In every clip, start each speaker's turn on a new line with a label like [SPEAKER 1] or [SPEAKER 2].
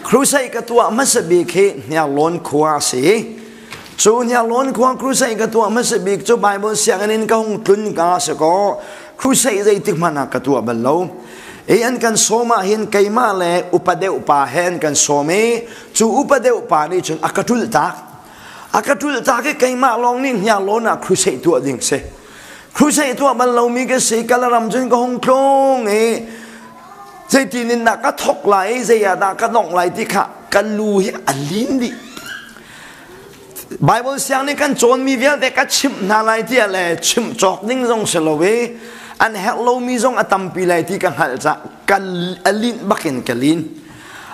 [SPEAKER 1] Crusade ka tuah hmasa bik hi Hniarlawn khua a si. Cu Hniarlawn khua crusade ka tuah hmasa bik cu Bible sianginn in ka hung tlun ka si kaw crusade zeitik hmanh ah ka tuah bal lo. I an kan sawm ah hin keimah le upa deuh pa he an kan sawm i cu upa deuh pa nih cun a ka ṭulh tak. A ka ṭulh tak i keimah lawng nih Hniarlawn ah crusade tuah ding si. Crusade tuah bal lomi ka si. Kalaram cun ka hung tlung i Zeitin in dah ka thok lai, zei ah dah ka nongh lai ti kha kan lu hi a lin dih. Bible siang nih kan cawnmi vialte ka chimh hna lai ti le chimh cawk ding zong si lo i an herh lomi zong a tampi lai ti ka hngalh ca kan a lin bakin ka lin.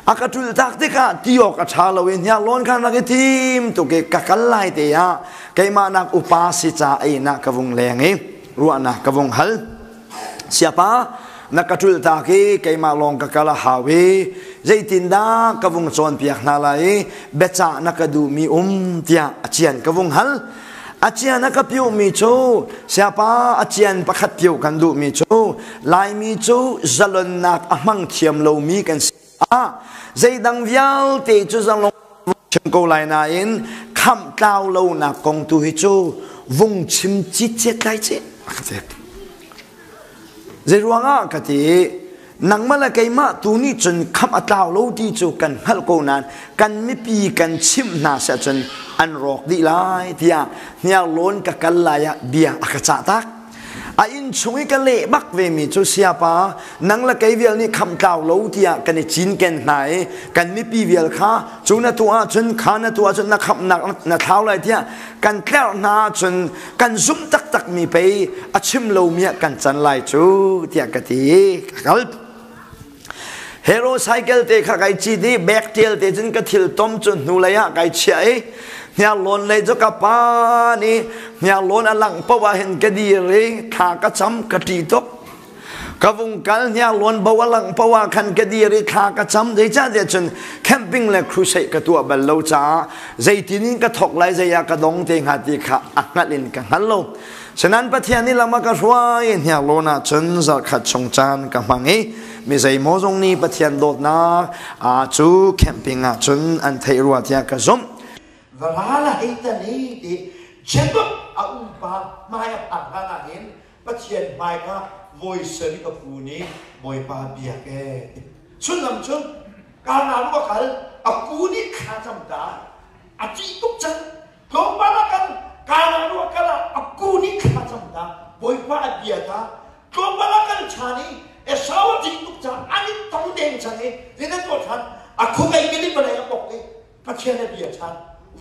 [SPEAKER 1] A ka ṭul tak tikah ti awk a ṭha lo i hniar lawn khan rak i tim tuk i ka kal lai te ah keimah nak upa si ca einak ka vung leng i ruahnak ka vong hal siapa na ka ṭul tak i keimah lawng ka kal a hau i zeitindah ka vung cawnpiak hna lai i biacah na ka duhmi um tiah a cian ka vung hal a cian a ka piuhmi cu siapa a cian pakhat pio kan duhmi cu laimi cu zalonnak a hmang thiam lomi kan si ah zeidang vialte cu zalong chim ko lai nain khamh tlau lonak kong tu hi cu vung chim cicet lai ce ka ti zeiruangah ka ti nangmah le keimah tu nih cun khamh a tlau lo ti cu kan hngalh ko nain kan mipi kan chimh hna si ahcun an rawk dih lai tiah hniar lawn ka kal lai ah bia a ka cah tak a inn chung i ka leh bak vemi cu siapa nang le kei vial nih kham tlau lo tiah kan i cinken hna i kan mipi vial kha cu na tu ahcun kha na tu ahcun na khamnak na thau lai tiah kan tlerh hna ahcun kan zumh taktak mi pei a chim lomi ah kan can lai cu tiah ka ti ka kal Hero cycle te kha kai chi ti bag tial te cun ka thil tom cu hnu lei ah kai chia i hniar lon lei cu ka pan i hniar lon a lang po ah hin ka dir i thla ka cham ka ti tok ka vung kal hniar lon bo a lang po ah khan ka dir i thla ka cham zei ca te cun camping le crusade ka tuah bal lo caah zeitin in ka thok lai zei ah ka dong te hnga ti kha a hngalh in ka hngal lo Senan Pathian nih lam a ka hruai hniar lawn ah cun zarkhat chung caan ka hmang i mi zeimaw zong nih Pathian dawtnak aa cu camping ah cun an theih rua tiah ka zumh. Varal a hei tan i ti Jacob a umpa hmai a phak hlan ah hin Pathian hmai kha voi sarih a fu nih Bawipa biak ee. Sullam cu kaa na ruak hal a pu nih kha cam ta a ṭih tuk cang tlawmpal a kal kanah nu a kal ah a ku nih thla cam dah bawipa a bia ta tlawmpal a kal chan i Esau a tih tuk caan an i tong deng chan i zinen tuah chan a khawgei kili palai a pok i Pathian a bia chan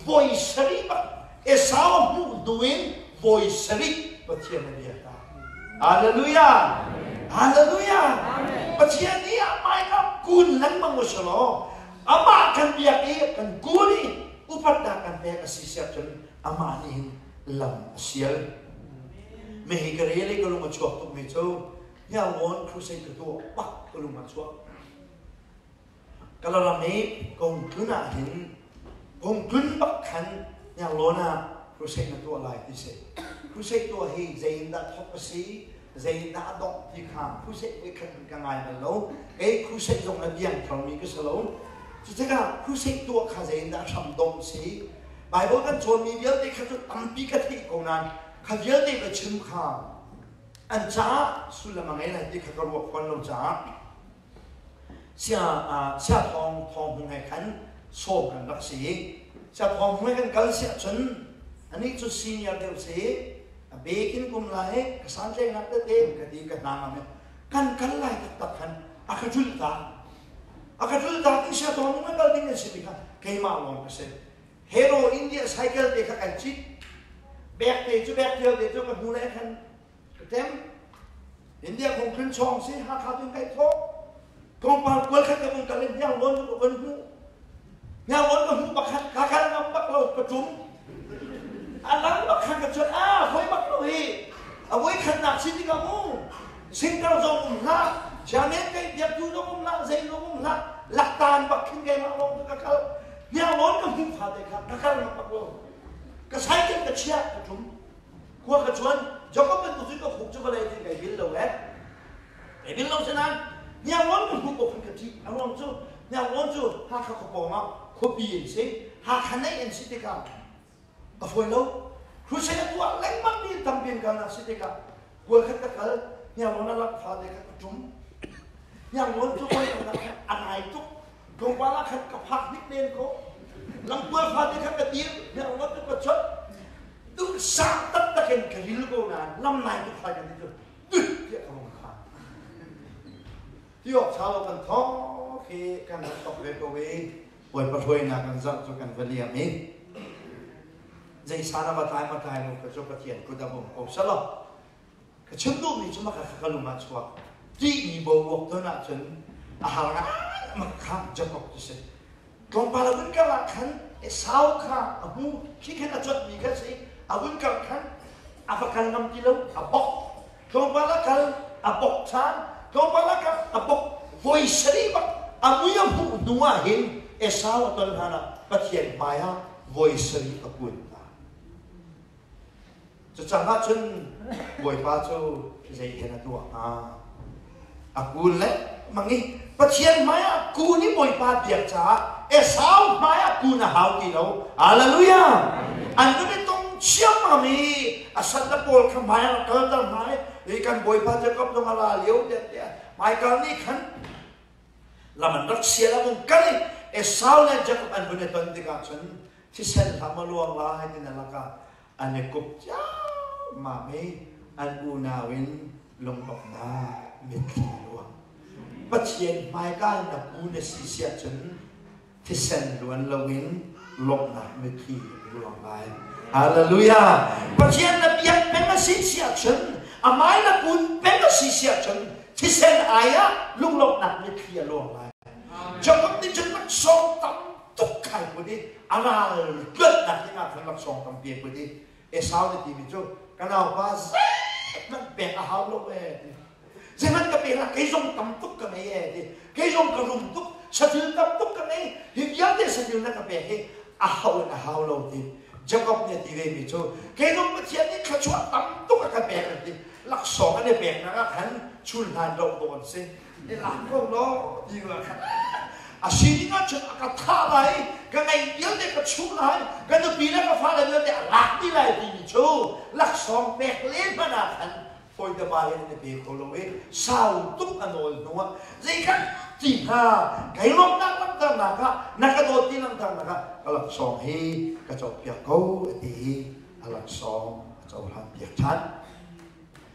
[SPEAKER 1] voi sarih pa Esau a hmuh hnu in voi sarih Pathian a bia ta Hallelujah Hallelujah Pathian nih amai ka kun lengmang u salo amah kan biak i kan kun i upatnak kan pek a si siah cun amah nih hin lam a sial. Mehi ka re le ka lung a chuak tuk mi cu Hniarlawn crusade ka tu pak ka lung a chuak. Kalaram i kung tlun ah hin kung tlun bak khan Hniarlawn ah crusade na tuah lai ti si. Crusade tuah hi zei in dah thok a si, zeidah a dongh ti kha crusade voi khat ka ngai bal lo kei crusade zong a diang tharmi ka si lo cucakah crusade tuah kha zeiindah a hram dongh si Bible kan cawnmi vialte kha cu tampi ka theih ko nain kha vialte ka chim kha an caah sullam a ngei lai ti kha ka ruah fawn lo caah Sia thawng thawng hmun he khan sawm kan rak si i sia thawng hmun he kan kal si ahcun anih cu senior deuh si a bekin kum lai ka santlainak tete ka ti ka hnangam kan kal lai taktak khan a ka julh ta a ka julh ta ti sia thawng hmun kal ding an si tikah keimah lawng ka si hero india cycle te kha kan cit bek te cu bek tial te cu ka hnu lai khan Atem India kong khin chong si Hakha tun kai tho kongpal kual khat ka mong kalin hnyang lon ko on hu hnyang on ko hu pakhat kakal ngam bak lo ka tum alang bakhan ka chon a hoi bak lo hi awoi khan nak si tika mu singkar zo um la janet kai biak tu dong um la zai dong um la laktan bakhin kai ma lo ka kal hnyang lon ka hu pha te kha kakal ngam bak lo ka sai ken ka chia ka tum khua ka chuan Jacob bantuk cu ka khuk cu vale ti kai bil lo eh kai bil lo sanan niang on ka hnup okun ka ti a ruang cu niang on cu hakha khopawng ah khuapi in si hakha nei in si tikah ka hruai lo crusade a tuah lengmang mi tam bin ka na si tikah kual khat ka kal niang on a lak fa de ka tum niang on cu oi a nai tuk Tlawmpal ah khan ka phak hnik men ko. Langtual fate khan ka dir, merngot ka ka chot. Duk sang tak tak in ka ril ko na, nam nai ka khai kan ditu. Tiah ka hong kha. Ti ok salo kan thong khi kan rak tok ve ko i, Bawipa hruainak kan zarh cu kan va liam i, zei sana va tlai ma tlai nu ka cu Pathian kut a bum ko salo. Ka chim duhmi cu maka kha ka lung ah chuak. Ṭihmi bo awk ton ahcun a har ngaingaim kha jump awk ti si. Tlawmpal a vun karh ah khan Esau kha a hmu. Khi khan a cuanhmi kha a si. A vun karh khan a va kal ngam ti lo. A bok. Tlawmpal a kal, a bok ṭhan. Tlawmpal a karh, a bok. Voi sarih bak a mui a hmuh hnu ah hin Esau a ton hlanah Pathian hmai ah voi sarih a kun hna. Cucang ahcun Bawipa cu zeihen a tuah hnga? A ku lengmang i Pathian hmaiah ku nih Bawipa biak caah Esau hmaiah ku na hau ti lo. Hallelujah! An kan i tong ciammam i a salle pawl kha hmaiah a kalter hna i kan Bawipa Jakob dong a ra lio vialte Michael nih khan lam an rak sial a vung kal i Esau le Jakob an vun i ton tikah cun thisen hlam a luang lai ti na lakah an i kup ciammam i an unau in lungbaknak mitthli luang pathian hmaikal na pu na si siah cun thisen luan loin lawmhnak mitthli luang ngai hallelujah pathian na biak peng a si siah cun amai na kun peng a si siah cun thisen ai ah lunglawmhnak mitthli a luang ngai Jacob nih cun sawm tam tukkhal put i a ral tuannak ding ah khan laksawng tampi put i Esau ti timi cu ka naupa zeihmanh pek a hau lo e ti zeihmanh ka pek la kei zong tam tuk ka ngei e ti kei zong ka rum tuk sathil tam tuk ka ngei hi vialte sathil na ka pek hi a hau in a hau lo ti Jacob nih ti ve mi cu kei zong Pathian nih thluachuah tam tuk a ka pek an ti laksawng an i pek nak ah khan chun hlan lo dawt si i laam ko law ti ralkhat a sining ah cun a ka thah lai ka ngei vialte ka chuh lai ka nupi le ka fale vialte a lak dih lai timi cu laksawng pek le hmanh ah khan foidama in na pe kho lo i sau tuk a nawl hnuah zei kan ti hna kai lawmhnak langhternak ah na ka dawt ti langhternak ah ka laksawng hi ka copiak ko a ti i a laksawng a cohlan piak ṭhan